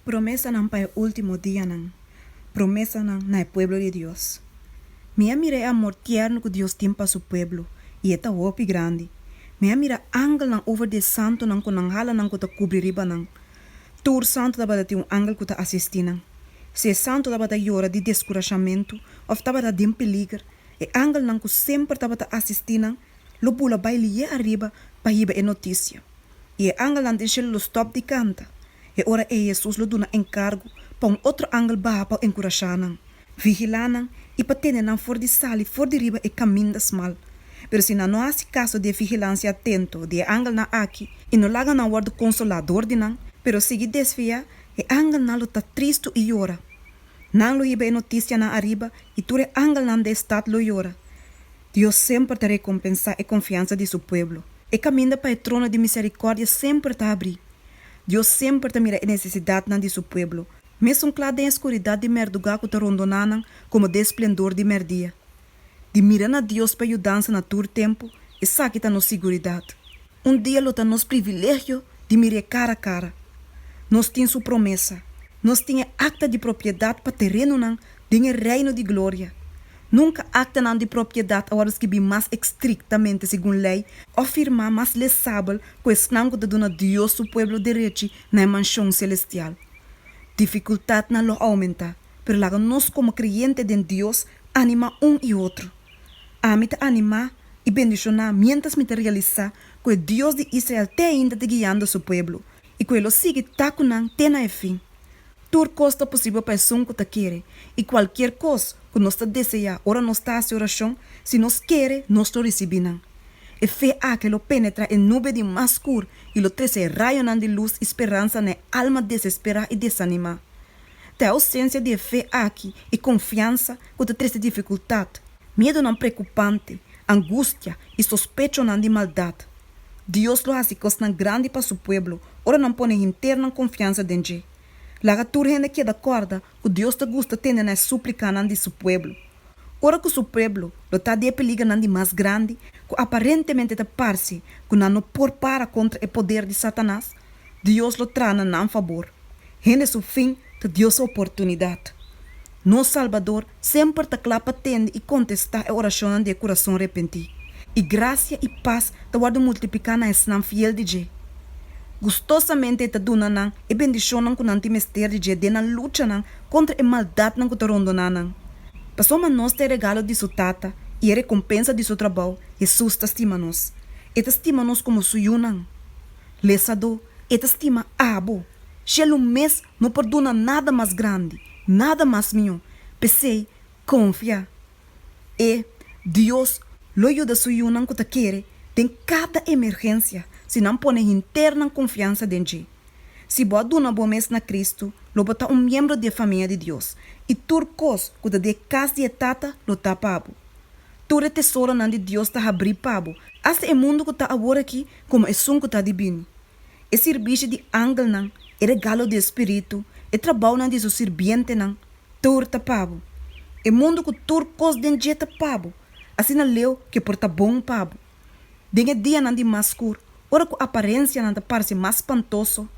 Promesanan pa e último dianan. Promesanan na e pueblo di Dios. Mi a mira e amor tierno ku Dios tin pa Su pueblo, i e ta hopi grandi. Mi a mira angelnan over di e santunan ku nan hala nan ku ta kubri riba nan. Tur santu tabata tin un angel ku ta asistí nan. Si e santu tabata yora di deskurashamentu òf tabata den peliger, e angelnan ku semper tabata asistí nan lo bula bai lié ariba pa hiba e notisia. i e angelnan den shelu lo stòp di kanta. E ora ei Hesus lo duna enkargu pa un otro angel baha pa enkurashá nan, vigilá nan i pa tene nan for di sali for di riba e kaminda smal. Pero si nan no hasi kaso di e vigilansia atento di e angelnan aki i no laga nan wòrdu konsolá dor di nan, pero sigui desviá, e angelnan lo ta tristu i yora. Nan lo hiba e notisianan ariba i tur e angelnan dje stat lo yora. Dios semper ta rekompensá e konfiansa di su pueblo. E kaminda pa e trono di miserikòrdia semper ta abrí. Dios semper ta mira e nesesidatnan di su pueblo, mesun kla den e skuridat di mèrduga ku ta rondoná nan komo den splendor di mèrdia. Di mira na Dios pa yudansa na tur tempu, esaki ta nos siguridat. Un dia lo ta nos privilegio di mir'é cara cara. Nos tin su promesa. Nos tin e akta di propiedat pa terenonan den e Reino di gloria. Nunka aktanan di propiedat a wòrdu skirbí mas estriktamente segun lei òf firmá mas lesabel ku esnan ku ta duna Dios su pueblo derechi na e manshon selestial. Difikultatnan lo aumentá, pero laga nos komo kreyente den Dios ánima un i otro. Ami ta animá i bendishoná miéntras mi ta realisá ku e Dios di Israel te ainda ta guiando su pueblo i ku e lo sigui ta ku nan te na e fin. Tur kos ta posibel pa esun ku ta kere, i kualkier kos ku nos ta deseá ora nos ta hasi orashon, si nos kere, nos lo risibí nan. E fe akí lo penetrá e nube di mas skur i lo trese rayonan di lus i speransa na e alma desesperá i desanimá. Ta e ausencia di e fe aki i confiansa cu ta trece dificultad, miedonan preocupante, angustia i sospechonan di maldad. Dios lo haci cosnan grandi pa su pueblo ora nan pone hinternan confiansa den dje. Laga tur hende keda corda cu Dios ta gusta tende na e suplicanan di su pueblo ora cu su pueblo lo ta di e peligernan di mas grandi cu aparentemente ta parce cu nan no por para contra e poder di Satanas. Dios lo traha na nan fabor. Hende su fin ta Dios su oportunidad. Nos Salbador semper ta cla pa tende y contesta e oracionnan di e curason repenti, y gracia y paz ta wordo multiplica na esnan fiel di dje. Gustosamente e ta duna nan e bendicionnan cu nan tin mester di dje den nan luchanan contra e maldadnan cu ta rondona nan. Pasobra nos ta e regalo di su Tata y e recompensa di su trabao, Jesus ta stima nos. E ta stima nos como su yunan. Lesadó, e ta stima abo. Shellum mes no por duna nada mas grandi, nada mas mihó. P'esei, konfia. E, Dios, lo yuda su yunan ku ta kere den kada emergensia si nan pone hinter nan konfiansa den dje. Si bo a duna bo mes na Kristu, lo bo ta un miembro di e famia di Dios, i tur kos ku ta den e kas di e Tata lo ta pa bo. Tur e tesoronan di Dios ta habrí pa bo, asta e mundu ku ta awor akí. Komo esun ku ta di bini, e sirbishi di angelnan, e regalo di e Spiritu, e trabounan di su sirbientenan, tur ta pa bo. E mundu ku tur kos den dje ta pa bo, asina leu ke por ta bon pa bo. Den e dianan di mas skur, ora ku aparensianan ta parse mas spantoso,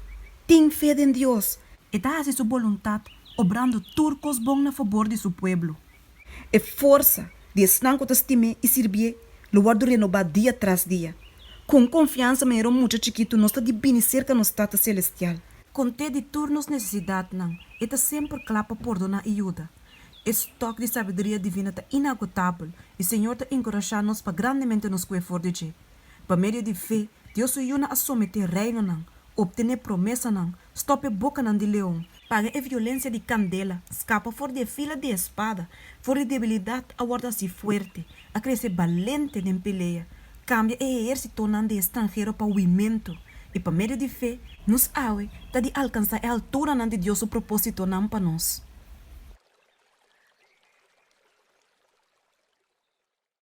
tin fe den Dios, e ta hasi su boluntat obrando tur kos bon na fobor di su pueblo. E forsa di esnan ku ta stim'é i sirbié lo wòrdu renobá dia tras dia. Ku un konfiansa manera un mucha chikitu, nos ta di bini serka nos Tata selestial. Kont'é di tur nos nesesidatnan, e ta semper kla pa pordoná i yuda. E stòk di sabiduria divino ta inagotabel, i Señor ta enkurashá nos pa grandemente nos kue for di dje. Pa medio di fe, Dios su yunan a someté reinonan, optené promesanan, stòp e bokanan di leon, Paga e violencia di candela, scapa for di e fila di espada, for di debilidad a worde así fuerte, a crece balente den pelea, cambia e ehercitonan di e stranhero pa huimento, y pa medio di fe, nos awe ta di alcansa e alturanan di Dios su propositonan pa nos.